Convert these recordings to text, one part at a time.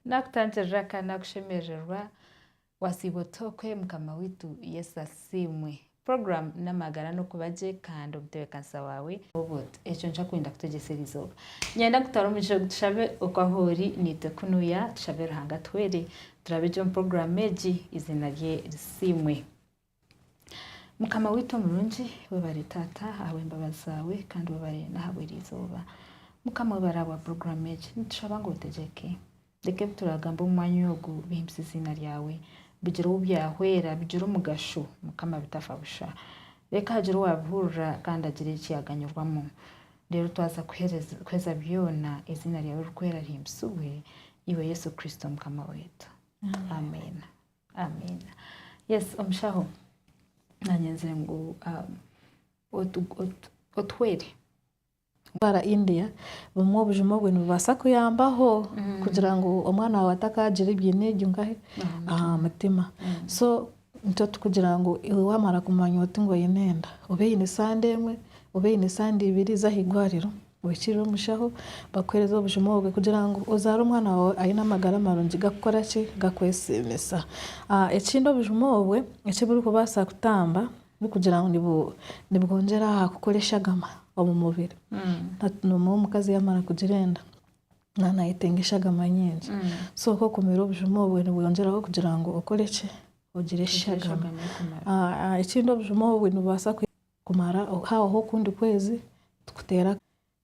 Nakutangirira ka nakushemerererwa, wasiiba ota okwe? Mukama waitu Yesu asiimwe. Program namagara nokuba gye kandi omutebekanisa wawe. Robot ekyo nikyo akwenda kutwegyesa eri izooba. Nyenda nkutware omu ishogo tushabe okwo ahu ori naitwe kunuya tushabe Ruhanga atuhwere turabe gye omu program egi eiziina rye risiimwe. Mukama waitu omurungi webare Taata ahabwembabazi zaawe kandi webare nahabwe eri izooba. Mukama webare ahabwa program egi nitushaba ngu otegyeke. Reka ebi turagamba omu mwanya ogu bihimbise eiziina ryawe, bigire ou byahwera bigire omugasho mukama bitafa busha. Reka hagire owabihurira kandi agire eki yaganyurwamu. Reero twaza kuhereza kuheza byona eiziina ryawe ririkwera rihimbisibwe, iwe Yesu Kristo mukama waitu. Amiina. Amiina. Yes omushaho nanyenzire ngu ah, otu- otu- otuhwere Twara India, bumwe obujuma obwo nibubaasa kuyambaho kugira ngu omwana waawe atakaagira ebiine egyo nkahi aha mutima. So nikyo turikugira ngu iwe waamara kumanya oti ngu oine enda, oba oine sande emwe, oba oine sande ibiri za aha igwariro ohikirire omushaho bakuheereze obujuma obwo kugira ngu ozaare omwana waawe aine amagara marungi gakukora ki? Gakwesiimisa. Ekindi obujuma obwo eki burikubaasa kutamba, N'okugira ngu nibwongyera aha kukora eshagama omu mubiri. Hati noomanya omukazi yaamara kugira enda, naaba naayetenga eshagama nyingi. So ku okumira obujuuma obwo nibwongyeraho kugira ngu okore ki? Ogire eshagama. Ekindi obujuuma obwo nibubaasa kumara, haaho okundi kwezi tikuteera.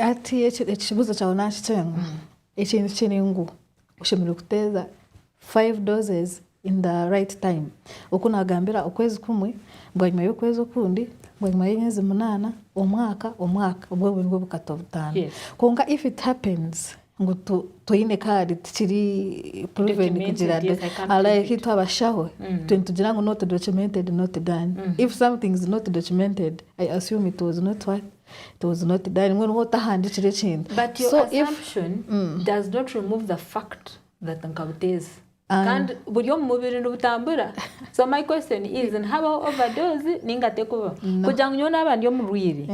Hati eki ekibuzo kyawe nakikyenga ekintu kiri ngu oshemerire kuteza five doses in the right time okunagambira okwezi kumwe bwanyima yokwezi okundi bwanyima yemyezi munana omwaka omwaka obwo nibwo bukato butano kwonka if it happens ngu toine kaadi tikiri proven kugira ngu unlike itwe abashaho itwe nitugira ngu not documented not done if something is not documented i assume it was not what it was not done mbwenu waaba otahandikire ekintu But your so if assumption does not remove the fact that nka buteezi kandi buri omu mubiri nibutambura so my question is nihabaho overdose ninga tekubaho kugira ngu nyowe naaba ndi omurwaire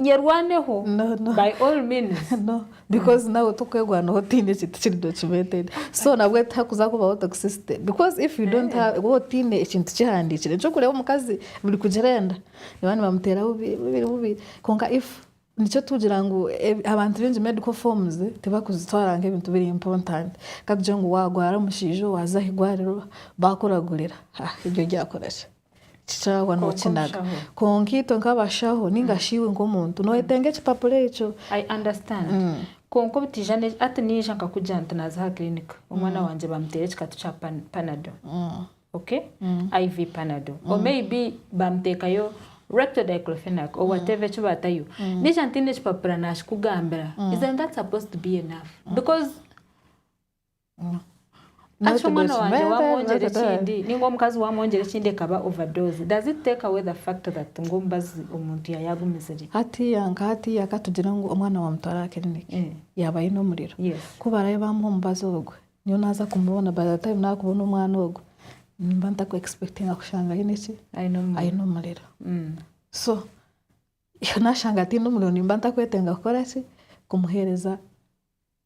Yerwaneho by all means. No, because nawe tokwegwanaho otiine ekintu kiri documented. So nabwe tihakuza kubaho toxicity because if you don't have, waaba otiine ekintu kihandiikire. Eky'okureeba omukazi buri kugira enda niba nibamuteera bubi bubiri bubiri. Kwonka if, nikyo turikugira ngu abantu baingi medical forms tibakuzitwara nk'ebintu biri important. Ka tugire ngu waagwara omushaija owaaza aha igwariro baakuragurira, ha, ebyo oryakora ki? Kikyaahwa nookinaga. Kwonka itwe nk'abashaho nainga shi iwe nk'omuntu nooyetenga ekipapura ekyo. I understand. Kwonka obutaija n'ekyo, hati naija nkakugira nti naaza aha clinic omwana wangye baamuteera ekikatu kya panado, okay? iv panado or may be baamuteekayo recto diclofenac or whatever eki baatayo, naija ntaine kipapura naakikugambira, isn't that supposed to be enough? Because. Hati omwana wangye wamwongyera ekindi ninga omukazi wamwongyera ekindi ekaba overdose does it take away the fact that ngu omubazi omuntu yayagumizire. Hatiya nka hatiya katugire ngu omwana wamutwara aha clinic eh. yaba aine omuriro yes. ku barabe bamuha omubazi ogwo nyowe naza kumubona by the time nakubona omwana ogwo nimba ntaku expectinga kushanga aine ki aine omuriro mm. so nashanga ataine omuriro nimba ntakwetenga kukora ki kumuhereza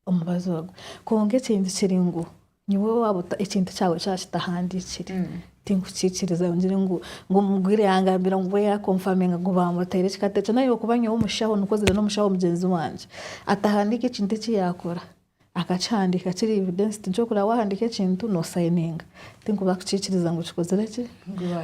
Omubazi ogwo. Kwonka ekindi kiri ngu, nyowe waaba ota ekintu kyawe kyaaba kitahandiikire, tinkukiikiriza ngu ngire ngu ngu omugwire yaangambira ngu we yaakonfaminga ngu baamuteera ekikata ekyo. Nainga kuba nyowe omushaho nkozire n'omushaho mugyenzi wangye, atahandiika ekintu eki yaakora, akakihandiika kiri evidence, tinkire kureba waahandiika ekintu noosayininga. Tinkubaasa kukiikiriza ngu okikozire ki,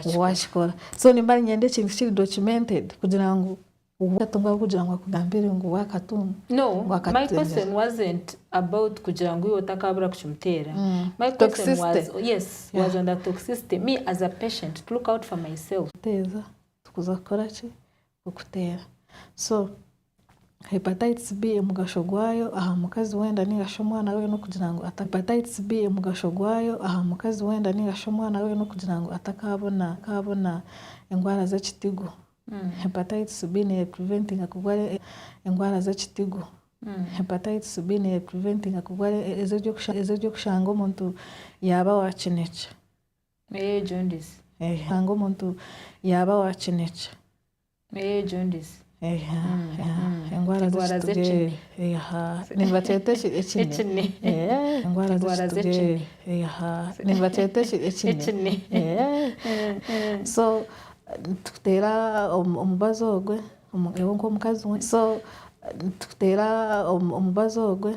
ngu waakikora. So nimba niinyenda ekintu kiri documented kugira ngu Watunga kugira ngu akugambire ngu wakatunga. No, my question wasn't about kugira ngu iwe otakabura kukimuteera. My question was, yes, was on the toxicity. Me as a patient to look out for myself. Kuteeza tikuza kukora ki? Kukuteera. So, Hepatitis B omugasho gwayo aha mukazi wenda ninga shi omwana we n'okugira ngu ata. Hepatitis B omugasho gwayo aha mukazi wenda ninga shi omwana we n'okugira ngu atakabona, akabona, engwara z'ekitigu. Hepatitis B neyepriventinga kurwara endwara z'ekitigu. Hepatitis B neyepriventinga kurwara ezo ori kushanga omuntu yaaba wa kinekye. Eya Jaundice. Shanga omuntu yaaba wa kinekye. Eya Jaundice. Endwara z'ekine. Nibakyeta ekine. Endwara z'ekine. Nibakyeta ekine. Ekine. So. Nitukuteera omubazi ogwe iwe nk'omukazi weena. So nitukuteera omubazi ogwe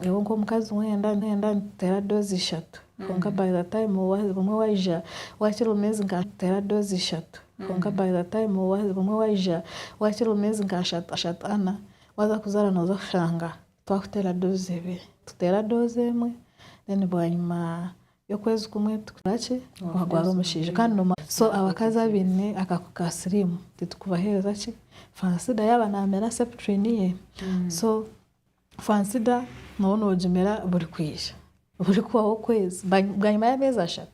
iwe nk'omukazi weena nitukuteera doozi ishatu kwonka by the time obumwe waija waakira omu meezi nka nitukuteera doozi ishatu kwonka by the time obumwe waija waakira omu meezi nka ashatu ana waaza kuzaara nooza kushanga twakuteera doozi ibiri. Nitukuteera doozi emwe then bwanyima yokwezi kumwe tukukoraki wagwara omushaija kandi nomara so abakazi abaine akaku ka sirimu titukubahereza ki fansida yaba namera septrin ye so fansida noba nogimera buri kwija buri kuhwaho okwezi bwanyima yamezi ashatu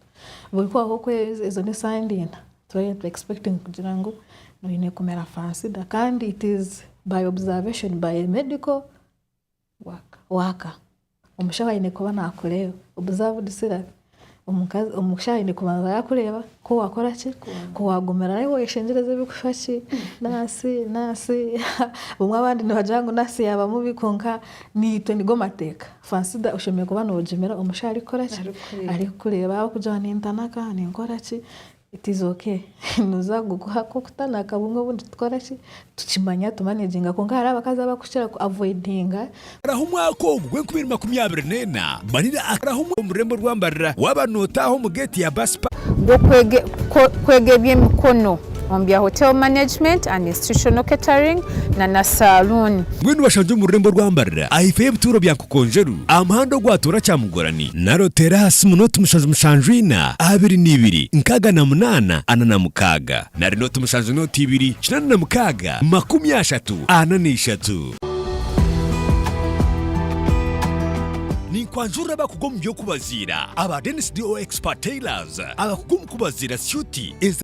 buri kuhwaho okwezi ezo nesande ina turabe nitu expecting kugira ngu oyine kumera fansida kandi it is by observation by a medical waaka omushaho aine kuba nakureeba obuze abuditsire omushaho aine kubanza yakureeba ku wakoraki ku wagumire aho weshengyerezo ebirikushwa ki naasi naasi obumwe abandi nibagira ngu naasi yaaba mubi kwonka naitwe nigo mateeka fansida oshemereire kuba nogimira omushaho arikukoraki arikukureeba ahabw'okugira ngu nintanaka ninkoraki It is ok noza kuguha kokuta naka bumwe obundi tukora ki tukimanya tu managinga kwonka hariho abakazi abakukira ku avoidinga. Maraho omwaka ogu gw'enkubiri makumi abiri n'ena manira akaraho omwaka omururembo rw'ambarira waba notaaha omu gate ya bus park. Kwega eby'emikono omu bya hotel management and institutional catering na na saloon. Mbwenu bashangye omu rurembo rw'ambarira aha ifo y'ebituuro bya. Konjeru aha muhanda ogwatoora Kyamugorani, naro teera aha simu noti mushanju mushanju ina, abiri na ibiri, nkaaga na munaana, ana na mukaaga. Nari noti mushanju noti ibiri, kinaana na mukaaga, makumi ashatu, ana na ishatu. Ninkwanjurira abakugu omu by'okubaziira aba Dennis DO Expert Tailors, abakugu omu kubaziira syuti eza.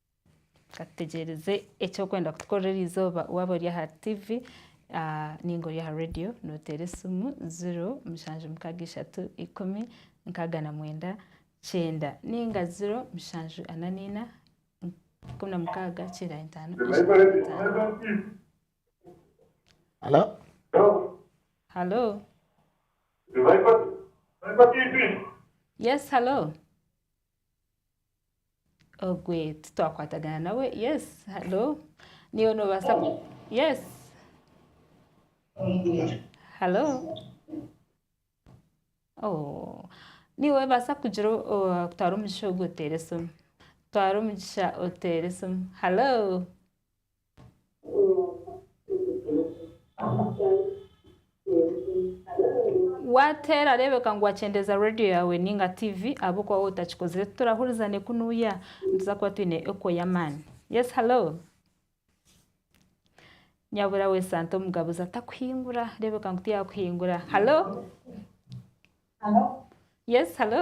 Ka tutegyereze eki orikwenda kutukorera eri izooba. Waaba ori aha tiivi nainga ori aha reediyo, nooteera esimu, ziiro mushanju mukaaga ishatu ikumi nkaaga na mwenda kyenda nainga ziiro mushanju ana naina ikumi na mukaaga kyenda na itaano ishatu na itaano. Halo. Yes, halo. Ogwe titwakwatagana nawe yes halo niiwe noobaasa yes halo ooh niiwe obaasa kugira kutwara omugisha ogwo oteera esimu twara omugisha oteera esimu halo. Wateera reebeka ngu wakyendeeza radio yaawe ninga TV ahabw'okuba waaba otakikozire titurahurizane kunuuya nituza kuba twine echo y'amaani. Yes hello? Nyabura we Santa omugabuzi atakuhingura reebeka ngu tiyaakuhingura. Hello? Yes hello?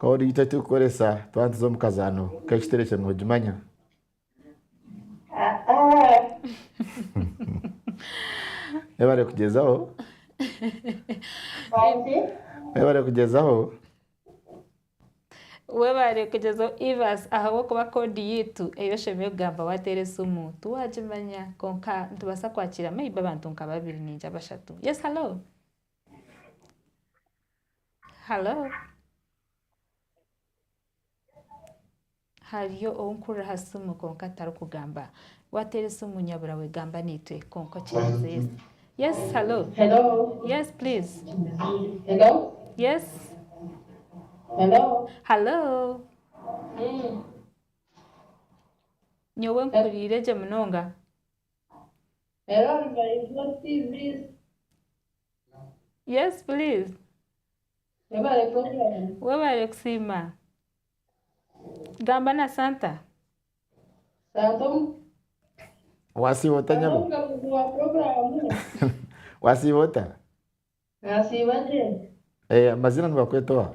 Koodi ki eturikukoresa twaba nituza omu kazaano k'ekiterekye noogimanya? Mwebare kugyezaho. Mwebare kugyezaho. Webare kugyezaho Ivas ahabw'okuba koodi yaitu ei oshemereire kugamba waateera esimu tiwaagimanya. Kwonka nitubaasa kwakira maybe abantu nka babiri nainga bashatu. Yes, hallo? Halo. Hariyo ou mpurira aha simu kwonka atarikugamba. Waateera esimu nyabura wegamba naitwe kwonka okireebuza yes. Yes, halo. Hello. Yes, please. Hello. Yes. Hello. Halo. Mm. Nyowe mpuriire gye munonga. Hello, River Rejoice TV. Yes please. Webale kusiima. Gamba na Santa. Wasiiba ota nyabo? Wasiiba ota? Eh, amazina nibakweta oha?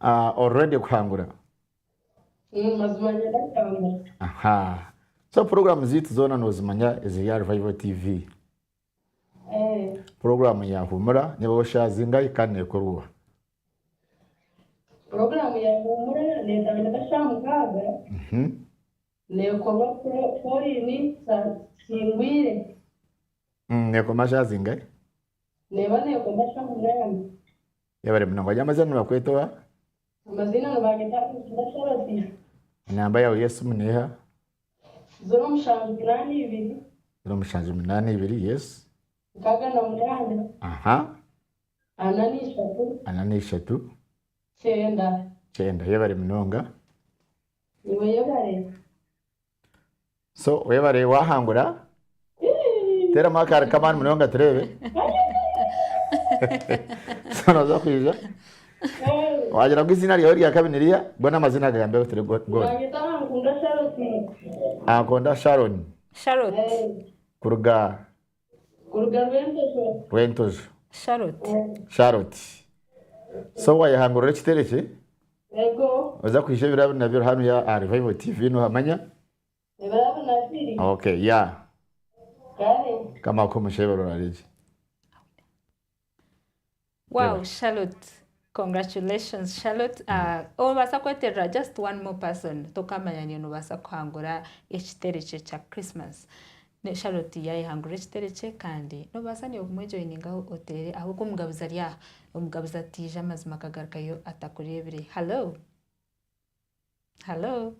Ah, ori ready kuhangura? mazima nyenda kutambura Aha. So puroguramu ziitu zoona noozimanya eziri aha Revival TV. Eh, Puroguramu ya Humura neebaho shaaha zingahi kandi neekorwa? puroguramu ya humura neetandika shaaha mukaaga Mhm. neekorwa puro- porini saa sihingwire Mm, Neekoma shaaha zingahi? Neeba neegomba sha munonga. Yebare munonga. Wagire amaziina nibakweta oha? Amaziina nibanyeta Ruhindukira Sharobia. Enamba yawe y'esimu neha? Ziro mushanju munani ibiri. Ziro mushanju munani ibiri yes. Nkaga na munana. Aha. Ana n'ishatu. Ana n'ishatu. Kyenda. Kyenda yebare munonga. Niwe yebare. so webare wahangura teramu akaari k'amaani munonga tureebe so nooza kwija waagira ngu eiziina ryawe erya kabiri niriya go n'amaziina agagambe oturi go- goona Banyita Ankunda Charlotte. ankunda sharon Charlotte. kuruga Kuruga Rwentozo. Rwentozo. Charlotte. Charlotte. So wayehangurura ekitereki? Ego. Oza kwija ebiraabi nabiri hanu ya aha Revival TV ino hamanya? Ebiraabi nabiri. Okay, ya. Kare. Mukama akuhe omugisha yebare oraregye. Wow Charlotte congratulations Charlotte ah, obaasa kweterera just one more person tokamanya niyo nobaasa kuhangura ekiterekye kya Christmas Ne- Charlotte yayehangurira ekiterekye kandi nobaasa niwe kumwejoyiningaho oteere ahabw'okuba omugabizi ari aha omugabizi ataija amazima akagarukayo atakureebire hallo hallo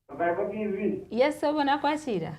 Makaika TV. yes sebo nakwakiira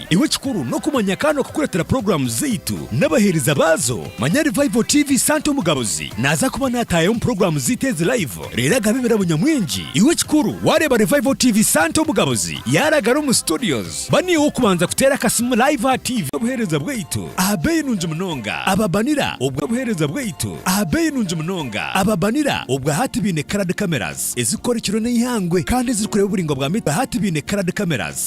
Iwe ekikuru n'okumanya kandi okukureetera puroguraamu zaitu n'abaheereza baazo. Manya Revival TV Sante Omugabuzi naaza kuba naataayaho omu puroguraamu zaitu ezi laivu reero agabe emirabo nyamwingi. Iwe ekikuru waareeba Revival TV Sante Omugabuzi yaaragara omu Studios, ba niiwe ow'okubanza kuteera akasimu laivu aha tiivi. Obuheereza bwaitu aha beeyi nungi munonga Ababanira obwa Obuheereza bwaitu aha beeyi nungi munonga Ababanira obwa hati baine color'd cameras ezirikukora ekiro n'eihangwe kandi ezirikureeba oburaingwa bwa mitwe hati baine color'd cameras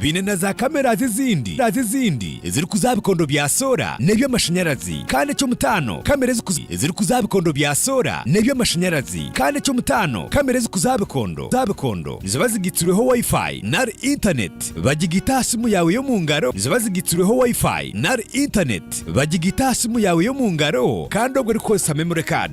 Baine na za kameras ezindi ezindi ezirikuza aha bikondo bya soora n'eby'amashanyarazi kandi eky'omutaano kamera ezikuza ezirikuza aha bikondo bya soora n'eby'amashanyarazi kandi eky'omutaano kamera ezikuza aha bikondo aha bikondo niziba zigaitsirweho Wi-Fi nari internet bagigaita aha simu yaawe y'omu ngaro niziba zigaitsirweho Wi-Fi nari internet bagigaita aha simu yaawe y'omu ngaro kandi obwo orikukozesa memory card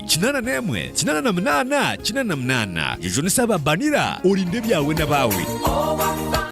Kinaana n'emwe, kinaana na munaana, kinaana na munaana. Jujunisa aba Banira, orinde ebyawe n'abaawe.